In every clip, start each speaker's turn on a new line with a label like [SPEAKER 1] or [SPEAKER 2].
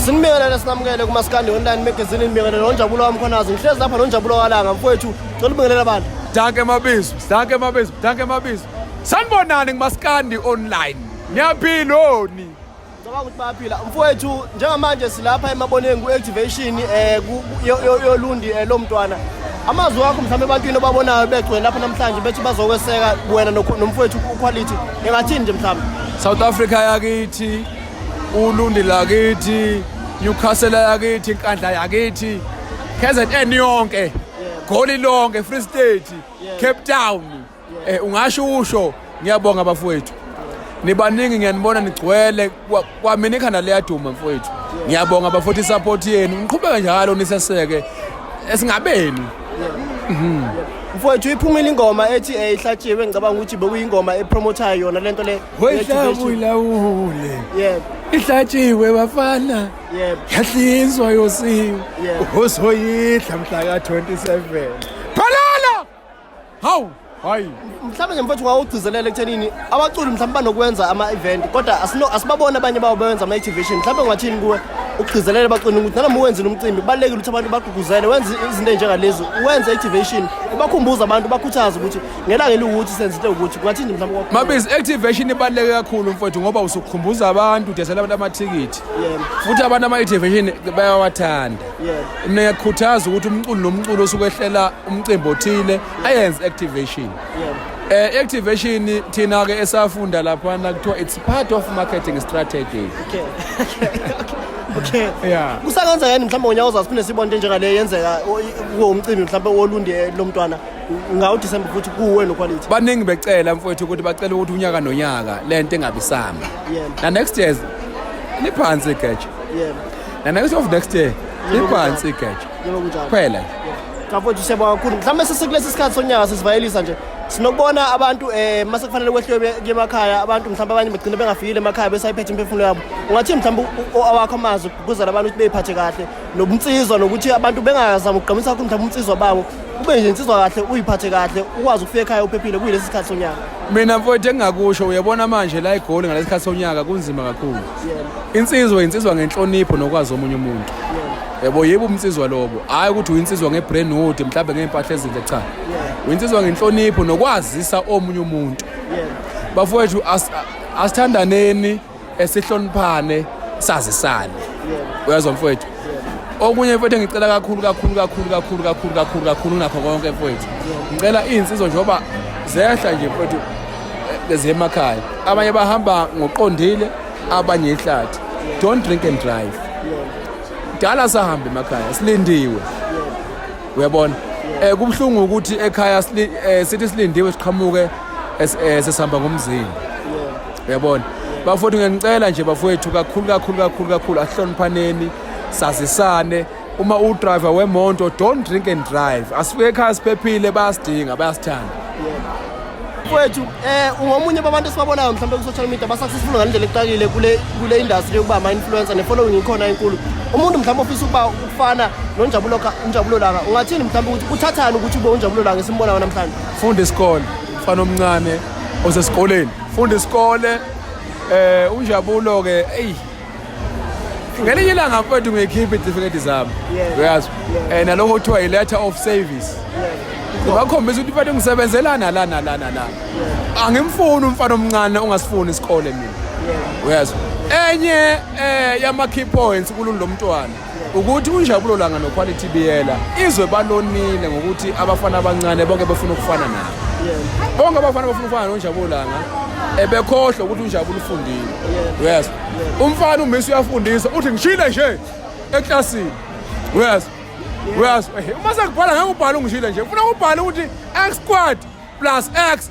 [SPEAKER 1] sinibingelele sinamukele kumasikandi online magazine nibingelele nonjabulo wamkhonazi ngihlezi lapha nonjabulo walanga mfowethu cela ubingelele abantu danke mabizo
[SPEAKER 2] danke mabizo danke mabizo sanibonani kumasikandi online niyaphiloni ngicabanga ukuthi
[SPEAKER 1] bayaphila mfowethu njengamanje silapha emaboneni ku-activation um eh, yolundi um eh, lo mntwana amazwi wakho mhlawumbe ebantwini obabonayo begcwele lapha namhlanje bethi bazokweseka wena nomfowethu uquality engathini nje mhlawumbe south africa
[SPEAKER 2] yakithi ulundi lakithi newcastle yakithi inkandla yakithi kzn yonke goli lonke free state cape town um ungasho usho ngiyabonga bafowethu nibaningi ngiyanibona nigcwele kwamina ikhanda liyaduma mfowethu ngiyabonga bafowethu isupport yenu niqhubeke njalo niseseke esingabeni mhm.
[SPEAKER 1] mfowethu iphumile ingoma ethi eyihlatshiwe ngicabanga ukuthi bekuyingoma epromotayo yona lento le Hoyihlabu ilawule.
[SPEAKER 2] Yebo. Ihlatshiwe bafana. Yebo. Yahlinzwa yosiwe. Yebo. Uzoyidla mhla ka 27. Phalala! Hawu! Hayi. Mhlawumbe nje mfowethu
[SPEAKER 1] wawugcizelela ekuthenini abaculi mhlawumbe banokwenza ama-event kodwa asino asibaboni abanye bawo bewenza ama-activation mhlawumbe ungathini kuwe ukugcizelela abaculi ukuthi nanoma uwenzile umcimbi kubalulekile ukuthi abantu bagqugquzele wenze izinto ey'njengalezi wenze activation ubakhumbuze abantu bakhuthaze ukuthi ngelanga eliwukuthi senzile ukuthi kungathini mhlawumbe kwakhona. Mabizi activation
[SPEAKER 2] ibaluleke kakhulu mfowethu ngoba usukhumbuza abantu udesela abantu amathikithi Yebo. futhi abantu ama-activation bayawathanda Yebo. mina ngiyakukhuthaza ukuthi umculo nomculo osukwehlela umcimbi othile ayenze activation Yebo. Eh activation thina ke esafunda lapha na kuthiwa it's part of marketing strategy. Okay. Okay.
[SPEAKER 1] Yeah. Kusangenza yini
[SPEAKER 2] mhlawumbe ngonyaka
[SPEAKER 1] ozayo siphinde sibone into enjengale yenzeka o- kuwo umcimbi mhlawumbe wolundi eh, lomntwana ngawuthi sembe futhi kuwe lo quality baningi becela mfowethu
[SPEAKER 2] ukuthi bacela ukuthi unyaka nonyaka le nto engabisamba Yebo. na next year liphansi igeja yebo na next of next year liphansi igeja yebo kunjalo kuphela
[SPEAKER 1] nje
[SPEAKER 2] kafowethu siyabonga
[SPEAKER 1] kakhulu mhlawumbe sesekulesi sikhathi sonyaka sesivayelisa nje sinokubona abantu um mase kufanele kwehliwe be- kuye emakhaya abantu mhlawumbe abanye bagcine bengafikile emakhaya besayiphethe imiphefumulo yabo ungathini mhlawumbe u- u- awakho amazwi ukugqugquzela abantu ukuthi beyiphathe kahle nobunsizwa nokuthi abantu bengazama ukugqamisa kakhulu mhlawumbe ubunsizwa babo ube nje insizwa kahle uyiphathe kahle ukwazi ukufika ekhaya uphephile kuyilesi sikhathi sonyaka mina mfowethu
[SPEAKER 2] engingakusho uyabona manje la igoli ngalesi sikhathi sonyaka kunzima kakhulu insizwa insizwa ngenhlonipho nokwazi omunye umuntu yebo yebo umnsizwa lobo hayi ukuthi uyinsizwa ngebrand hood mhlawumbe ngey'mpahla ezinhle cha uyinsizwa ngenhlonipho nokwazisa omunye umuntu bafowethu asithandaneni esihloniphane sazisane uyazwa mfowethu okunye mfowethu engicela kakhulu kakhulu kakhulu kakhulu kakhulu kakhulu kakhulu nakho konke mfowethu ngicela iy'nsizwa njengoba zehla nje mfowethu eh, ziyemakhaya abanye bahamba ngoqondile abanye ihlathi don't drink and drive kudala sahambe emakhaya silindiwe uyabona eh kubuhlungu ukuthi ekhaya eh, sithi silindiwe siqhamuke eh, sesihamba ngomzini uyabona bafowethu ngiyanicela nje bafowethu kakhulu kakhulu kakhulu kakhulu asihloniphaneni sazisane uma udriver wemonto don't drink and drive asifike ekhaya siphephile bayasidinga bayasithanda
[SPEAKER 1] mfowethu eh ungomunye babantu esibabonayo mhlawumbe ku-social media ba-successful ngalendlela ekuqakile kule kule industry yokuba ama-influencer ne-following ikhona enkulu umuntu mhlawumbe ofisa ukuba ukufana nonjabulo unjabulo langa ungathini mhlawumbe ukuthi uthathani ukuthi ube unjabulo langa esimbonayo namhlanje funda isikole
[SPEAKER 2] mfana omncane osesikoleni funda isikole eh unjabulo ke eyi ngelinye ilanga mfowethu ngiyikhipha itifiketi zami uyazi um nalokho kuthiwa yi-letter of service ngibakhombisa ukuthi mfana ngisebenzelana lana lana lana angimfuni umfana omncane ongasifuni isikole mina uyazi enye um yama-key points kulunto mntwana ukuthi unjabulo langa noquality biyela izwe balonile ngokuthi abafana abancane bonke befuna ukufana nabo bonke abafana bafuna ukufana nonjabulo langa ebekhohlwa ukuthi unjabulo ufundile yes umfana umisi uyafundisa uthi ngishile nje eklasini yes yes uma sekubhala ngeke ubhale ungishile nje funa ubhale ukuthi x squad plus x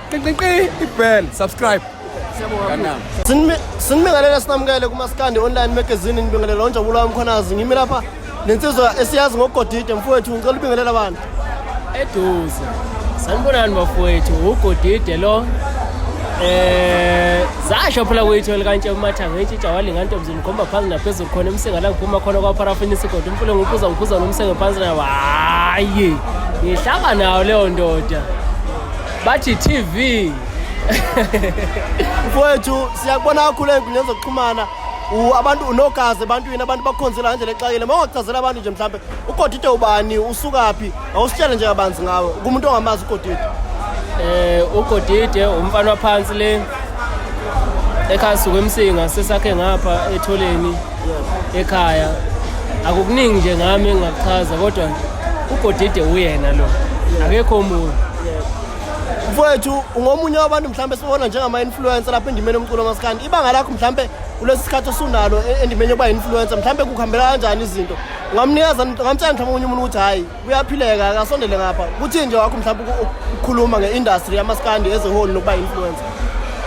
[SPEAKER 2] ibhel subscribe
[SPEAKER 1] sinibingelela sinamukele kumaskandi online magazine nibingelela onjabulo wami khonazi ngimi lapha nensizwa esiyazi ngogodide mfowethu ngicela ubingelela abantu eduze
[SPEAKER 3] sanibonani bafowethu ugodide lo eh zasho phela kwethu likantshe umathange itshintsha walinga ntombi ngikhomba phansi naphezulu khona emsinga la ngiphuma khona kwaparafini isigodo umfule ngiphuza ngiphuza nomsenge phansi nayo hayi ngihlaba nayo leyo ndoda bathi TV
[SPEAKER 1] mfowethu siyakubona kakhulu ey'nkundleni zokuxhumana abantu unogazi ebantwini abantu bakukhonzela ngendlela exakile uma ungachazela abantu nje mhlawumbe ugodide ubani usukaphi awusitshele nje kabanzi ngawe kumuntu ongamazi ugodide um eh, ugodide
[SPEAKER 3] umfana waphansi le ekhaya suke emsinga sesakhe ngapha etholeni ekhaya akukuningi nje ngami engingakuchaza kodwa ugodide uyena lo akekho omunye
[SPEAKER 1] mfowethu ungomunye wabantu mhlawumbe sibona njengama-influencer lapha endimeni yomculo masikandi ibanga lakho mhlawumbe kulesi sikhathi osunalo e-, endimeni yokuba yi-influencer mhlawumbe kukuhambela kanjani izinto ungamnikeza ungamtshela mhlawumbe omunye umuntu ukuthi hhayi kuyaphileka akasondele ngapha kuthi nje wakho mhlawumbe ukukhuluma nge-industry yamaskandi as a whole nokuba influencer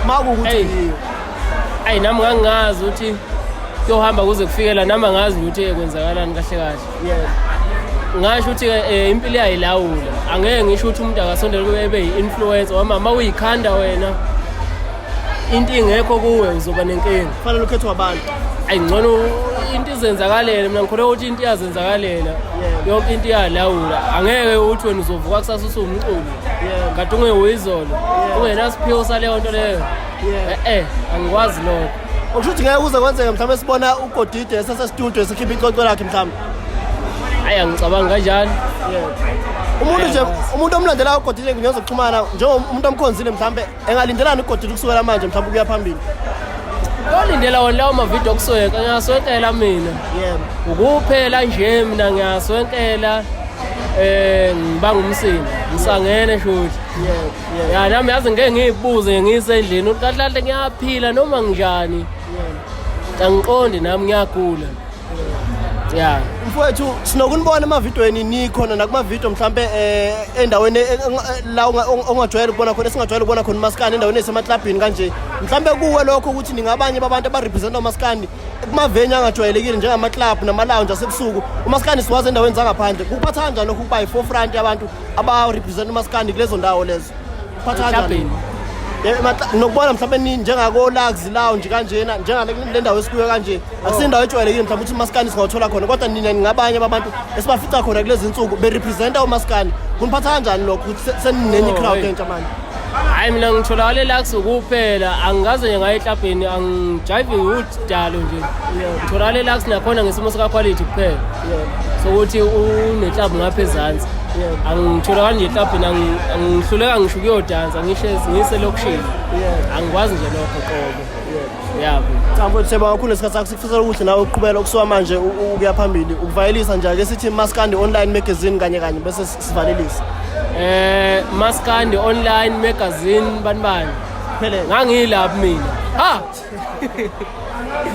[SPEAKER 1] ma kukuthi yiyo ayi nami
[SPEAKER 3] ngangingazi ukuthi kuyohamba kuze kufikela nami angazi ukuthi kwenzakalani kahle kahle yes ngasho ukuthi eh, impilo iyayilawula angeke ngisho ukuthi umuntu akasondele kube ebe yi-influencer wamama uyikhanda wena into ingekho kuwe uzoba nenkinga kufanele ukhethwe abantu
[SPEAKER 1] ayi ngcono
[SPEAKER 3] into izenzakalele mina ngikholwa ukuthi into iyazenzakalela yonke into iyalawula angeke uthi wena uzovuka kusasa usuwumculi kade ungewuyizolo ungenasiphiwo saleyo nto leyo e-e angikwazi lokho okusho ukuthi ngeke kuze
[SPEAKER 1] kwenzeke mhlawumbe sibona ugodide esesestudio esikhipha icoco lakhe mhlawumbe ayi
[SPEAKER 3] angicabangi kanjani umuntu nje
[SPEAKER 1] umuntu omlandelayo ugodide ngiyozoxhumana njengomuntu omkhonzile mhlawumbe engalindelani ugodile ukusukela manje mhlawumbe ukuya phambili olindela
[SPEAKER 3] wona lawo mavidiyo okusweka ngiyaswenkela mina ukuphela nje mina ngiyaswenkela eh ngibanga umsindo ngisangene shuthi ya nami yazi ngeke ngiyibuze ngisendlini uqahlahle ngiyaphila noma nginjani angiqondi nami ngiyagula yeah
[SPEAKER 1] mfowethu sinokunibona emavidweni nikhona nakumavidiyo mhlawumbe um eh, endaweni eh, eh, la ongajwayele ukubona khona esingajwayele ukubona khona umasikandi endaweni esemaklabhini kanje mhlawumbe kuwe lokho ukuthi ningabanye babantu abarepresenta umasikandi kumaveni angajwayelekile njengamaklabhu namalounge asebusuku umasikandi siwazi endaweni zangaphandle kuphatha kanjani lokhu ukuba yi-forefront yabantu abarepresenta umasikandi kulezo ndawo lezo Hlabheni. Eh, nokubona mhlawumbe nini njengakolaxi lounge kanjena njengale ndawo esikuyo kanje akusindawo ejwayelekile mhlawumbe ukuthi umaskani singawuthola khona kodwa nina ningabanye babantu esibafica khona kulezi nsuku berepresenta umaskani kuniphatha kanjani lokho ukuthi seninenye oh, icrowd entsha manje hayi mina
[SPEAKER 3] ngitholakale laxi kuphela angikaze nje ngaye ehlabheni angijayive sidalo nje utholakala elaks nakhona ngesimo sikaquality kuphela so ukuthi uneklabhu ngapha ezansi angitholakali nje eklabhini angihluleka ngisho ukuyodansa ngihlezi ngiselokishini angikwazi nje lokho qobo yabo cha mfowethu seba kakhulu
[SPEAKER 1] esikhathi sakho sikufisela ukuthi nawe uqhubela ukusuka manje ukuya phambili ukuvayelisa nje ake sithi maskandi online magazine kanye kanye bese sivalelisa eh
[SPEAKER 3] maskandi online magazine banibani Phele ngangilapha mina. Ha!